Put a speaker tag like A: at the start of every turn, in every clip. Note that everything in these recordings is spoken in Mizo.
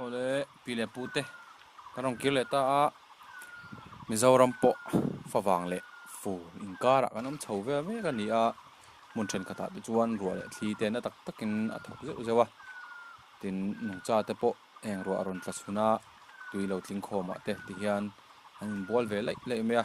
A: Ole pi le pu te kan rawn kir leh ta a Mizoram pawh favang leh fu inkarah kan awm chho vel mek a ni a hmun thenkhatah te chuan ruah leh thli te na tak takin a thawk zeuh zeuh a tin nungcha te pawh heng ruah a rawn tla chhun a tui lo tling khawm ah te ti hian an in bual ve laih laih mai a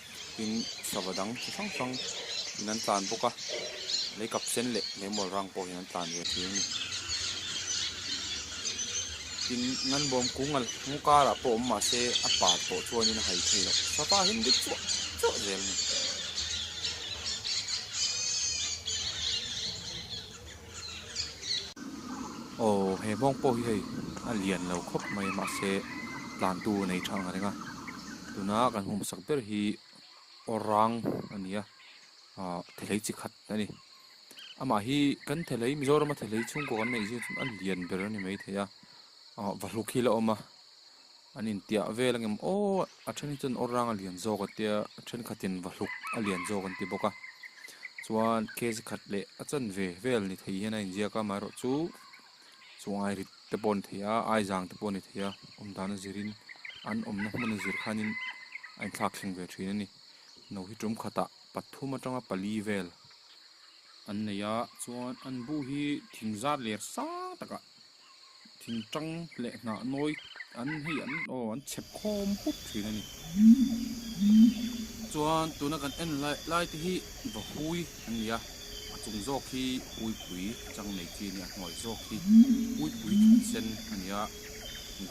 A: tin sava dang chi hrang hrang in an tlan bawk a lei kap sen leh lei mawl rang pawhin an tlan ve thei a ni tin ngan bawm kung al kawng karah pawh awm mah se a pa tawh chuanin a hai thei loh sava hi an dik chuah chuah zel a ni. Aw he hmawng pawh hi hei a lian lo khawp mai mahse tlantu a nei tha ang a ring a tuna kan hmuh sak ber hi orang a ni a ah thelei chi khat a ni amah hi kan thelei mizorama thelei chhungkaw kan neih zia chu a lian ber a ni maithei a ah vahluk hi la awm a. An intiah vel angem aw a then hi chuan awrang a lian zawk a tia a thenkhatin vahluk a lian zawk an ti bawk a chuan kezi khat leh a chan ve vel ni thei hian a inziak a amaherawhchu chu chu airit te pawh a ni thei a aizang te pawh a ni thei a awm dan a zirin an awmna hmun a zir khanin a inthlak thleng ve thin a ni no hi tum khatah pathum atanga pali vel an nei a chuan an bu hi thing zar ler sang takah. thing tang leh hnah nawi an hi an aw an chep khawm hup thin a ni chuan tuna kan en lai lai te hi vahui an nia a chung zawk hi puipui chang nei chi a ni a hnuai zawk hi puipui thut sen a nia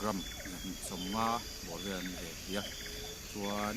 A: gram zahmit sawmnga bawr vel an ni ve thei a chuan.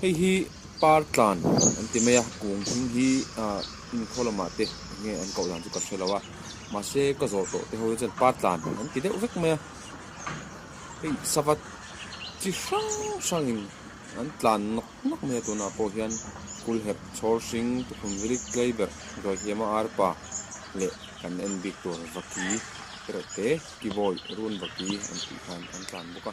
A: Hei hi par tlan an ti mai a, kung hming hi inkhaw lamah te nge an koh dan chu ka hre lo a, mahse ka zawh tawh te ho hi chuan par tlan an ti deuh vek mai a, hei sava chi hrang hrangin an tlan nawk nawk mai a, tunah pawh hian kulhep chhawr hring, tukhum vilik tlai ber, Ruahiama arpa leh kan en bik tur Vaki erawh te, Kivawi, Run Vaki an tih khan an tlan bawk a.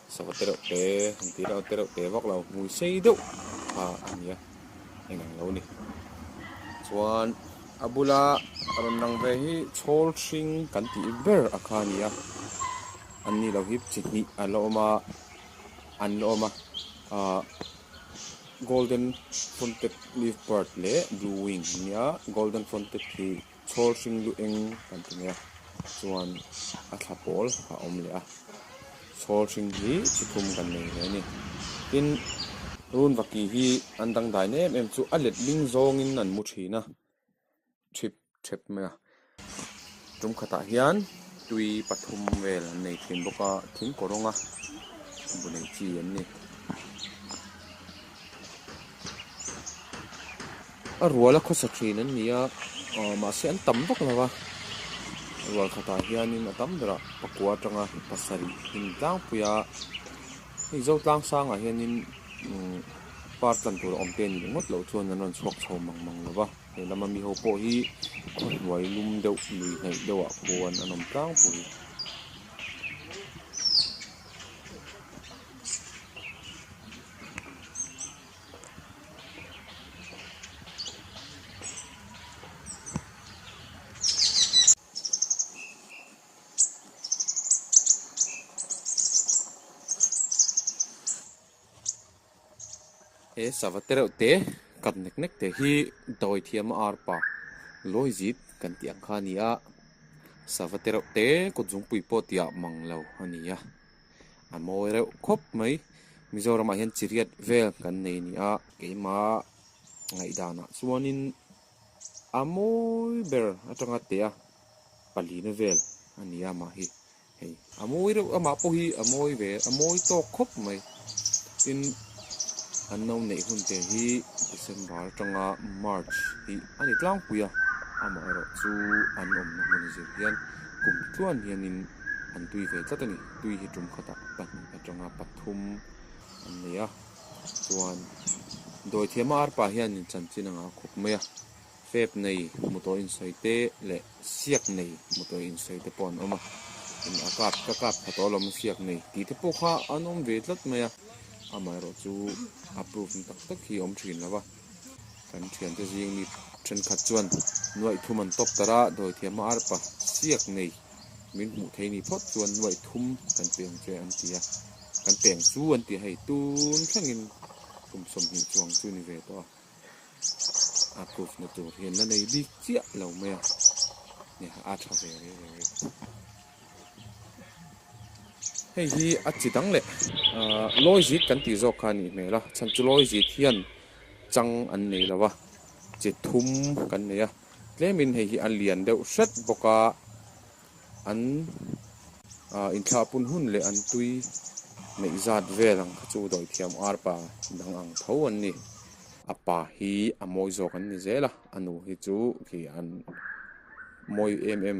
A: Sava te reuh te an tih reuh te reuh te vak lo hmui sei deuh kha a nia heng ang lo ni chuan a bula rawn lang ve hi chhawl hring kan tih ber a kha nia an ni lo hi chi hnih a la awm a an la awm a ah golden fonted leaf bird leh blue wing nia golden fonted hi-- chhâwl hring luh eng kan ti mai a chuan a thla pâwl a awm leh a chhâwl hring hi chi khum kan nei mai a ni tin rûn vaki hi an dang dâin em em chu a let ding zawngin an mu ṭhîn a ṭhîp ṭhep mai a ṭum khatah hian tui pathum vêl an nei ṭhîn bawk a thingkaw rawnga bu nei chi an ni. A ruala khawsa thin an ni a, mahse an tam vak lo a. Rual khatah hianin a tam berah pakua atanga pasarih in tlangpui a. Hei Zotlang sangah hianin par tlan tur a awm te nih ngawt loh chuan an rawn chhuak chho mang mang lo va. He lama mi ho pawh hi khawhnuai lum deuh lui hnaih deuhah khuan an awm tlangpui. He sava te reuh te kat nek nek te hi Dawithiam a arpa Luaizit kan tih ang kha a ni a, sava te reuh te kut zungpui pawh tih ah mang lo a ni a. a mawi reuh khawp mai Mizoramah hian chiriat vel kan nei a ni a keima ngaihdanah chuanin a mawi ber atanga teh a palina vel a ni a mah hi hei a mawi reuh amah pawh hi a mawi ve a mawi tawk khawp mai tin an no neih hun te hi December atanga March hi a ni tlangpui a amaherawhchu an awmna hmun zir hian kum tluan hianin. an tui ve tlat a ni. Tui hi tum khatah pahnih atanga pathum an nei a, chuan Dawithiama arpa hianin chanchin anga a khup mai a, fep nei hmu tawh insawi te leh siak nei hmu tawh insawi te pawh an awm a, tin a kap ka kap tha tawh alawm a siak nei tih te pawh kha an awm ve tlat mai a, amaherawhchu approve na tak tak hi a awm thin lo va. Kan thiante zing mi thenkhat chuan Nuaihthum an tawp tar a, Dawithiama arpa chiak nei min hmuh theih ni phawt chuan Nuaihthum kan peng che an ti a, kan peng chu an ti a hei, tun thlengin kum sawmhnih chuang chu ni ve tawh a, approve na tur hian la nei bik chiah lo mai a, nia a tha ve reng reng reng. Hei hi a chi dang leh lawizit kan tih zawk kha a nih hmel a, chhan chu lawizit hian chang an nei lo a, chi thum kan nei a, tlemin hei hi a lian deuh hret bawk a, an inthlaa pun hun leh an tui neih zat vel ang kha chu Dawithiam arpa dang ang tho an ni, a pa hi a mawi zawk an ni zel a, a nu hi chu khi an mawi em em.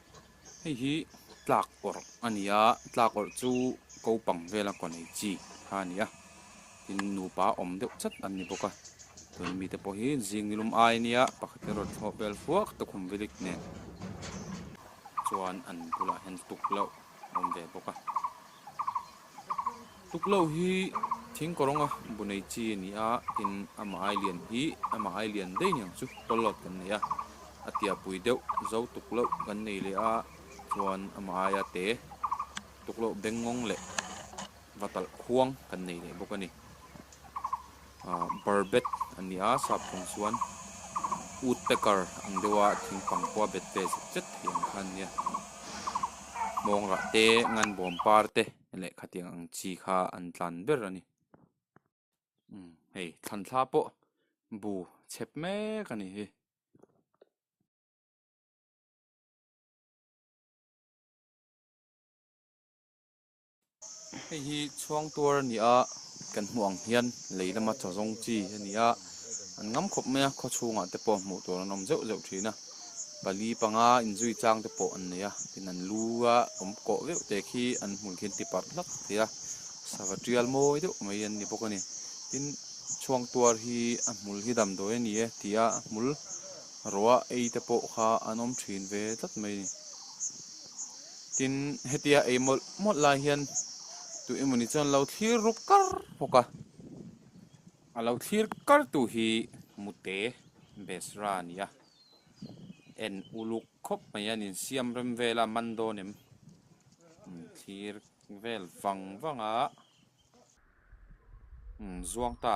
A: Hei hi tlak awrh a ni a, tlak awrh chu ko pang vela kaw nei chi kha a ni a, tin nupa awm deuh chat an ni bawk a, chuan mite pawh hi zing ni lum ai nia pakhat hi a rawn thlawh bel fuak ta khum vilik nen chuan an bulah hian lutuk loh a awm ve bawk a. Tuklo hi thing kawngawnga bu nei chi a ni a, tin a mahai lian hi a mahai lian daih niang chu kawl lot kan nei a, a tiahpui deuh zo tuk loh kan nei leh a, chuan a mahai a te tuklo bengawng leh va talh khuang kan nei leh bawk a ni. Barbet a ni a, sap thawng chuan Woodpecker ang deuha thing pangkhua bet pe zet zet thei ang kha an nia. Mawngrah te, ngan bawm par te leh khatiang ang chi kha an tlan ber a ni. Umm, hei thlanthla pawh bu chep mek a ni hi. Hei hi chhuang tuar a ni a, kan hmuh ang hian lei lama chaw zawng chi a ni a, an ngam khawp mai a, khaw chhungah te pawh hmuh tur an awm zeuh zeuh thin a, pali panga inzui chang te pawh an nei a, tin an lu a awm kawh viau te khi an hmui khi an ti parh hlak thei a, sava tial mawi deuh mai an ni bawk a ni, tin chhuang tuar hi a hmul hi damdawi a ni e tia a hmul ruah ei te pawh kha an awm thin ve tlat mai a ni. Tin, hetia ei mawlh mawlh lai hian tu emawni chuan lo thlir ruk kar bawk a. A lo thlir kartu hi mute Besra a ni a. En uluk khawp mai a, an insiam rem vel a, man dawn em? An thlir vel vang vang a. Umm, zuang ta.